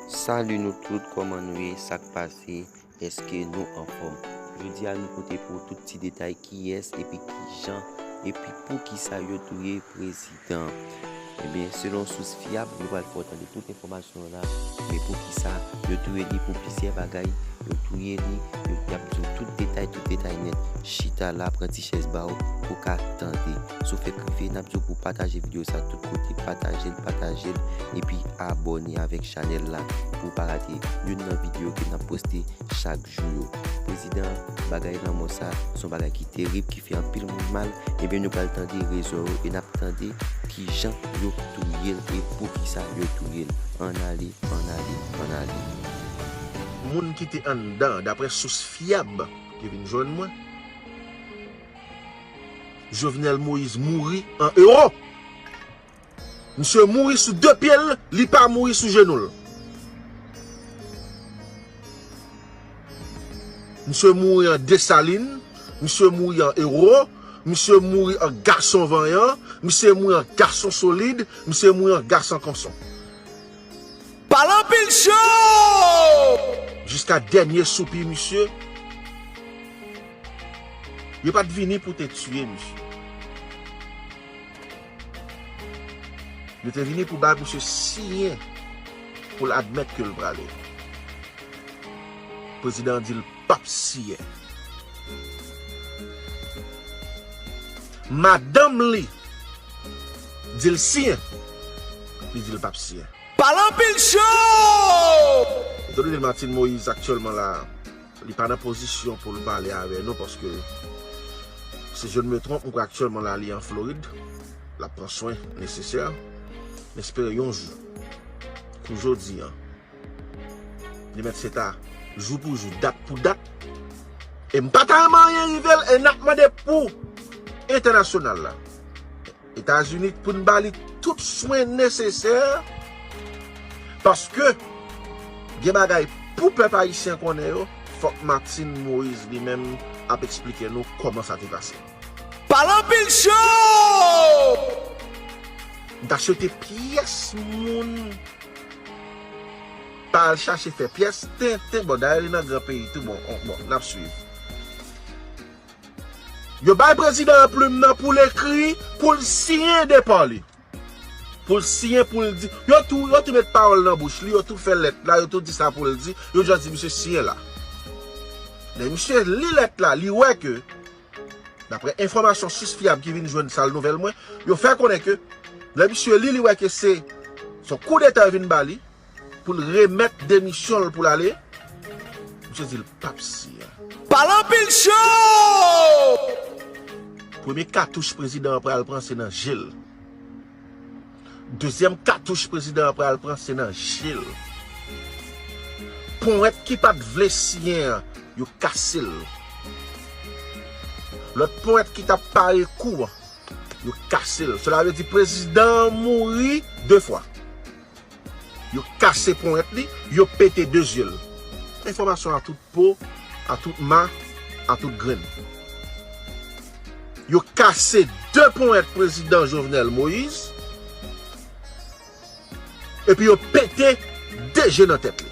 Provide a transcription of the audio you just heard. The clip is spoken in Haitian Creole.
Salut nou tout koman nou ye sak pase eske nou anfom jodi a nou pote pou ou tout ti detay kiyes epi kijan epi poukisa yo touye prezidan ebyen eh selon sous fyab nou pral fè w tande tout enfomasyon yo la men poukisa yo touye li pou plisyè bagay yo touye li yap di w tout detay. Rive tay nèt Chita la pran ti chèz ba w pou ka tande Sou fèk rive nap di w pou pataje video sa tout kote Pataje l pataje l epi abòne avèk chanèl la pou w pa rate youn nan video ke nap poste chak jou yo Prezidan bagay lanmò sa son bagay ki terib ki fè anpil moun mal Ebyen nou pral tande rezon yo e nap tande kijan yo touye l e poukisa yo touye l Ann ale ann ale ann ale. Moun ki te anndan, daprè sous fyab ki vin jwenn mwen. Jovenel Moïse mouri an euro. Misye mouri sou 2 pye l, li pa mouri sou jenou l. Misye mouri an Dessalines, misye mouri an euro, misye mouri an gason vanyan, misye mouri an gason solid, misye mouri an gason konson. Palanpil show! Jiska dènye soupi misye. Yo pat vini pou te tiye misye. Yo te vini pou bay misye siyen pou l admèt ke l prale. Prezidan an di l. pap siye. Madanm li di l siyen, li di l pap siyen. Pale anpil show! Etan done Martine Moïse aktyèlman la, li pa nan pozisyon pou l pale avè nou paske si je ne me trompe ou kwè aktyèlman la li an Florid, l ap pran swen nesesè. M espere yon jou kou jodi an. Li mèt fè ta jou pou jou, dat pou dat. E m pa talman anyen rive l e n ap mande pou entènasyonal la. Etazini pou n ba li tout swen nesesè paske gen bagay pou pèp ayisyen konnen yo fòk Martine Moïse li menm ap eksplike nou kòman sa te pase. Pale anpil show! M ta swete pyès moun pa al chache fè pyès tenten bon dayè li nan gran peyi tou bon bon nap swiv. Yo bay prezidan an plim nan poul ekri poul siyen depa li. Poul siyen poul di yo tou yo tou met pawòl nan bouch li yo tou fè lèt la yo tou di sa poul di yo just di misye siyen la. Lè misye li lèt la li wè ke Daprè enfòmasyon sis fyab ki vin jwenn sal nouvèl mwen, yo fè konnen ke lè misye li, li wè ke se yon koudeta yo vin ba li pou l remèt demisyon l pou l ale, misye di l pap siyen. Pale anpil show! Premye katouch prezidan an pral pran se nan je l. Dezyèm katouch prezidan an pral pran se nan je l. Powèt ki pa t vle siyen an, yo kase l. Lòt powèt ki t ap pare kou an, yo kase l. Sela vle di prezidan an mouri de fwa. Yo kase ponyèt li, yo pete 2 zye l. Enfòmasyon a tout po, a tout ma, a tout grenn. Yo kase 2 ponyèt prezidan Jovenel Moïse, epi yo pete 2 je nan tèt li.